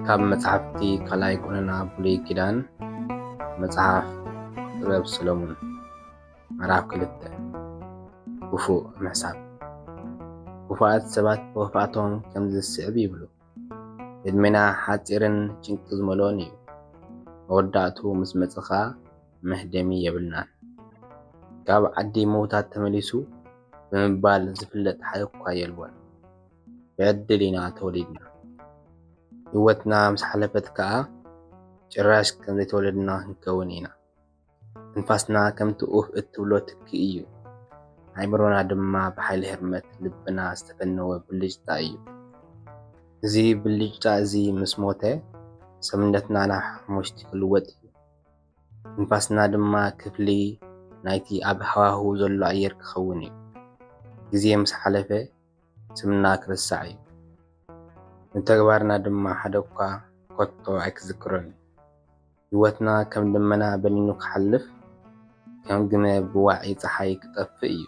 ካብ መጽሓፍቲ ካልኣይ ቁንና ብሉይ ኪዳን መጽሓፍ ጥበብ ሰሎሙን ምዕራፍ ክልተ ክፉእ ምሕሳብ ክፉኣት ሰባት ብኽፍኣቶም ከምዚ ዝስዕብ ይብሉ ዕድሜና ሓጺርን ጭንቂ ዝመልኦን እዩ። መወዳእትኡ ምስ መጸ ከኣ መህደሚ የብልናን። ካብ ዓዲ ምዉታት ተመሊሱ ብምባል ዝፍለጥ ሓደ እኳ የልቦን። ብዕድል ኢና ተወሊድና። ህይወትና ምስ ሓለፈት ከኣ ጭራሽ ከም ዘይተወለድና ክንከውን ኢና። ትንፋስና ከምቲ ኡፍ እትብሎ ትኪ እዩ። ኣእምሮና ድማ ብሓይሊ ህርመት ልብና ዝተፈነወ ብልጭታ እዩ። እዚ ብልጭታ እዚ ምስ ሞተ ሰብነትና ናብ ሓሙሽቲ ክልወጥ እዩ። ትንፋስና ድማ ክፍሊ ናይቲ ኣብ ሃዋህው ዘሎ ኣየር ክኸውን እዩ። ግዜ ምስ ሓለፈ፣ ስምና ክርሳዕ እዩ፣ ንተግባርና ድማ ሓደ'ኳ ከቶ ኣይክዝክሮን እዩ። ህይወትና ከም ደመና በኒኑ ክሓልፍ፣ ከም ግመ ብዋዒ ጸሓይ ክጠፍእ እዩ።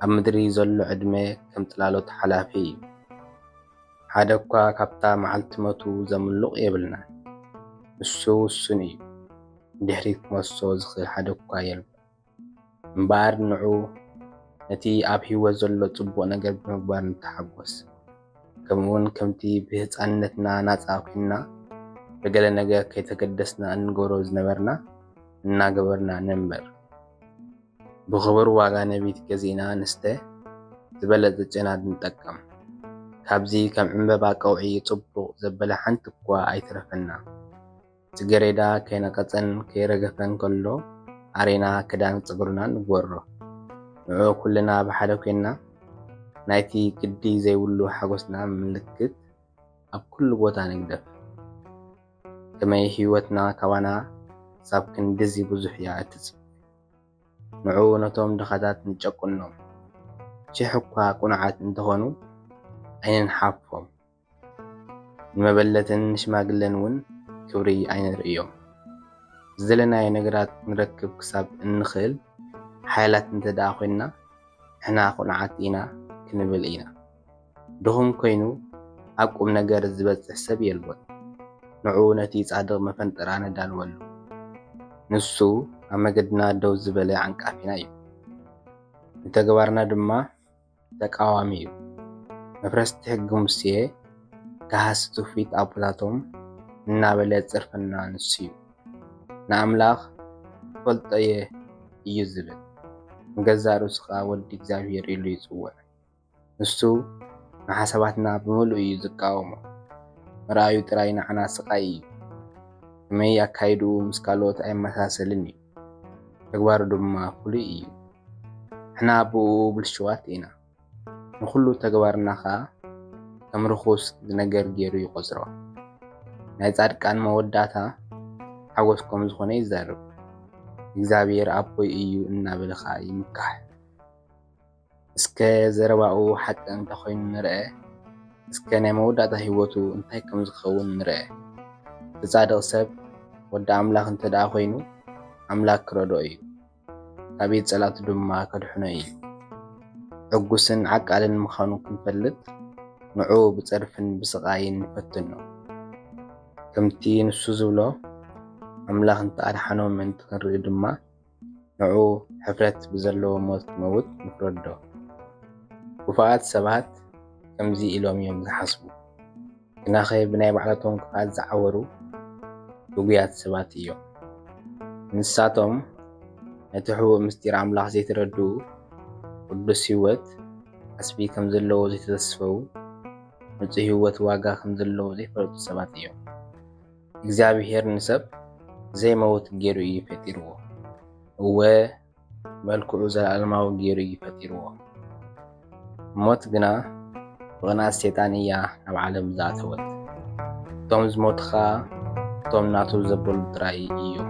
ኣብ ምድሪ ዘሎ ዕድመ ከም ጽላሎት ሓላፊ እዩ። ሓደ'ኳ ካብታ መዓልቲ ሞቱ ዘምሉቕ የብልናን። ንሱ ውሱን እዩ፣ ንድሕሪት ክመልሶ ዝኽእል ሓደ'ኳ የልቦን። እምበኣር ንዑ ነቲ ኣብ ሕይወት ዘሎ ጽቡቕ ነገር ብምግባር ንተሓጐስ። ከምኡውን ከምቲ ብህጻንነትና ናጻ ኲንና ብገለ ነገር ከይተገደስና እንገብሮ ዝነበርና እናገበርና ንንበር። ብኽቡር ዋጋ ነቢት ገዚእና ንስተ፣ ዝበለጸ ጨና ንጠቀም። ካብዚ ከም ዕምበባ ቀውዒ ጽቡቕ ዘበለ ሓንቲ'ኳ ኣይትረፈና። ጽጌሬዳ ከይነቐጸን ከይረገፈን ከሎ ኣሪና ክዳን ጸጉርና ንግበሮ። ንዕኡ ኩልና ብሓደ ኮይንና ናይቲ ግዲ ዘይብሉ ሓጎስና ምልክት ኣብ ኩሉ ቦታ ንግደፍ። ከመይ ህይወትና ካባና ክሳብ ክንድዚ ብዙሕ እያ እትጽበ። ንዑ ነቶም ድኻታት ንጨቁኖም። ሽሕ እኳ ቅኑዓት እንተኾኑ ኣይንንሓፎም። ንመበለትን ንሽማግለን እውን ክብሪ ኣይነርእዮም። ዝደለናዮ ነገራት ክንረክብ ክሳብ እንኽእል ሓያላት እንተ ደኣ ዄንና፣ ንሕና ቕኑዓት ኢና ክንብል ኢና። ድኹም ኰይኑ ኣብ ቁም ነገር ዚበጽሕ ሰብ የልቦን። ንዑ ነቲ ጻድቕ መፈንጠራ ነዳልወሉ፣ ንሱ ኣብ መገድና ደው ዝበለ ዓንቃፊና እዩ፣ ንተግባርና ድማ ተቃዋሚ እዩ መፍረስቲ ሕጊ ሙስየ ጋሃሲ ትውፊት ኣቦታቶም እናበለ ዝጽርፈና ንሱ እዩ ንኣምላኽ እፈልጦ እየ እዩ ዝብል ንገዛእ ርእሱ ከኣ ወዲ እግዚኣብሄር ኢሉ ይጽውዕ ንሱ ንሓሳባትና ብምሉኡ እዩ ዝቃወሞ ምርኣዩ ጥራይ ንዓና ስቃይ እዩ ከመይ ኣካይድኡ ምስ ካልኦት ኣይመሳሰልን እዩ ተግባሩ ድማ ፍሉይ እዩ ንሕና ብእኡ ብልሽዋት ኢና ንኹሉ ተግባርና ኸኣ ከም ርኹስ ዝነገር ጌሩ ይቖጽሮ ናይ ጻድቃን መወዳእታ ሓጎስ ከም ዝኾነ ይዛረብ እግዚኣብሔር ኣቦይ እዩ እናበልኻ ይምካሕ። እስከ ዘረባኡ ሓቂ እንተ ኾይኑ ንርኣ፣ እስከ ናይ መወዳእታ ህይወቱ እንታይ ከም ዝኸውን ንርኣ። እቲ ጻድቕ ሰብ ወዲ ኣምላኽ እንተ ደኣ ኾይኑ፣ ኣምላኽ ክረድኦ እዩ፣ ካብ ኢድ ጸላእቱ ድማ ከድሕኖ እዩ። ዕጉስን ዓቃልን ምዃኑ ክንፈልጥ፣ ንዕኡ ብጸርፍን ብስቓይን ንፈትኖ። ከምቲ ንሱ ዝብሎ፣ ኣምላኽ እንተ ኣድሓኖ ምእንቲ ክንርኢ ድማ፣ ንዑ ሕፍረት ብዘለዎ ሞት ክመውት ንፍረዶ። ክፉኣት ሰባት ከምዚ ኢሎም እዮም ዝሓስቡ፣ ግናኸ ብናይ ባዕላቶም ክፍኣት ዝዓወሩ ግጉያት ሰባት እዮም። ንሳቶም ነቲ ሕቡእ ምስጢር ኣምላኽ ዘይተረድኡ፣ ቅዱስ ህይወት ዓስቢ ከም ዘለዎ ዘይተተስፈዉ፣ ንጹህ ህይወት ዋጋ ከም ዘለዎ ዘይፈለጡ ሰባት እዮም። እግዚኣብሄር ንሰብ ዘይመውት ገይሩ እዩ ፈጢርዎ። እወ መልክዑ ዘለኣለማዊ ገይሩ እዩ ፈጢርዎ። ሞት ግና ብቕንኣት ሰይጣን እያ ናብ ዓለም ዝኣተወት። እቶም ዝሞቱ ኸኣ እቶም ናቱ ዘበሉ ጥራይ እዮም።